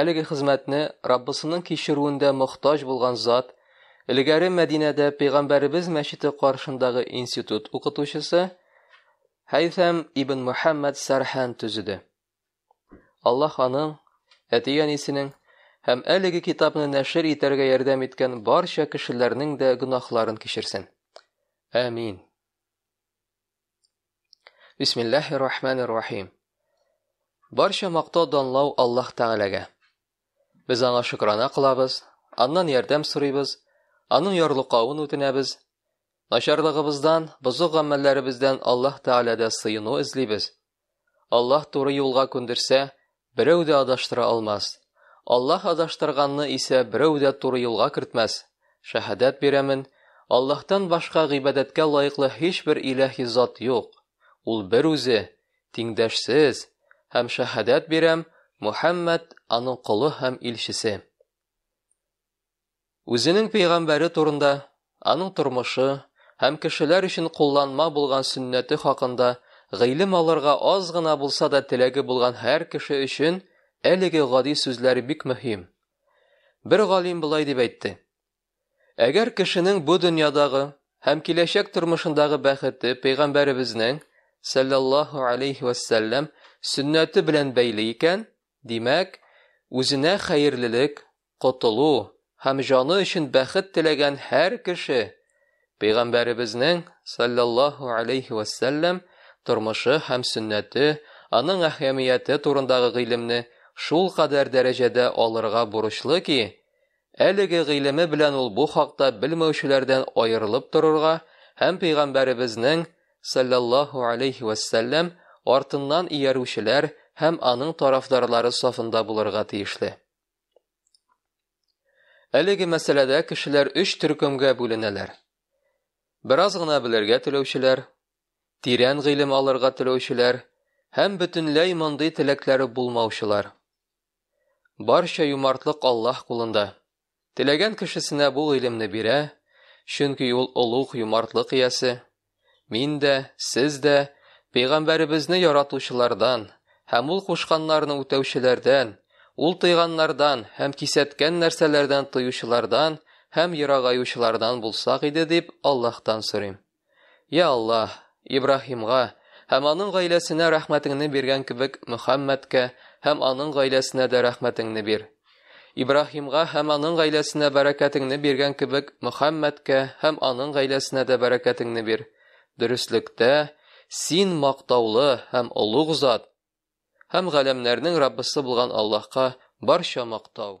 Әлеге хезмәтне Раббысының кичерүендә мохтаҗ булган зат, элегәре Мәдинәдә Пәйгамбәребез мәчете каршындагы институт укытучысы Хәйсәм ибн Мөхәммәд Сәрһән төзеде. Аллаһ аның, әти-әнисенең һәм әлеге китапны нәшер итәргә ярдәм иткән барча кешеләрнең дә гөнаһларын кичерсен. Әмин. Бисмиллахи рахмани рахим. Барча мактау данлау Аллаһ Тәгаләгә. Без аңа шөкрана кылабыз, аннан ярдәм сорыйбыз, аның ярлыкавын үтенәбез. Начарлыгыбыздан, бозык гамәлләребездән Аллаһ Тәгаләдә сыену эзлибез. Аллаһ туры юлга күндерсә, берәү дә адаштыра алмас. Аллаһ адаштырганны исә берәү дә туры юлга кертмәс. Шәһадәт бирәмен, Аллаһтан башка гыйбадәткә лаеклы һичбер иләһи зат юк. Ул бер үзе, тиңдәшсез, һәм шәһадәт бирәм, Мухәммәд аның колы һәм илчесе. Үзенең пәйгамбәре турында, аның тормышы һәм кешеләр өчен кулланма булган сөннәте хакында гыйлем алырга аз гына булса да теләге булган һәр кеше өчен әлеге гади сүзләр бик мөһим. Бер галим болай дип әйтте. Әгәр кешенең бу дөньядагы һәм киләчәк тормышындагы бәхете пәйгамбәребезнең саллаллаһу алейхи вәссәлләм сөннәте белән бәйле икән, димәк, үзенә хәерлелек, котылу һәм җаны өчен бәхет теләгән һәр кеше Пәйгамбәребезнең, саллаллаһу алейһи вә сәлләм, тормышы һәм сөннәте, аның әһәмияте турындагы гыйлемне шул кадәр дәрәҗәдә алырга бурычлы ки, әлеге гыйлеме белән ул бу хакта белмәүчеләрдән аерылып торырга һәм Пәйгамбәребезнең, саллаллаһу алейһи вә сәлләм, артыннан иярүчеләр һәм аның тарафдарлары сафында булырга тиешле. Әлеге мәсьәләдә кешеләр өч төркемгә бүленәләр. Бераз гына белергә теләүчеләр, тирән гыйлем алырга теләүчеләр һәм бөтенләй мондый теләкләре булмаучылар. Барча юмартлык Аллаһ кулында. Теләгән кешесенә бу гыйлемне бирә, чөнки ул олуг юмартлык иясе, Мин дә, сез дә пәйгамбәребезне яратучылардан һәм ул кушканнарны үтәүчеләрдән, ул тыйганнардан һәм кисәткән нәрсәләрдән тыючылардан һәм ерагаючылардан булсак иде дип Аллаһтан сорыйм. Я Аллаһ, Ибраһимга һәм аның гаиләсенә рәхмәтеңне биргән кебек Мөхәммәдкә һәм аның гаиләсенә дә рәхмәтеңне бир. Ибраһимга һәм аның гаиләсенә бәрәкәтеңне биргән кебек Мөхәммәдкә һәм аның гаиләсенә дә бәрәкәтеңне бир. Дөреслектә, син мактаулы һәм олуг зат, һәм галәмнәрнең Раббысы булган Аллаһка барча мактау.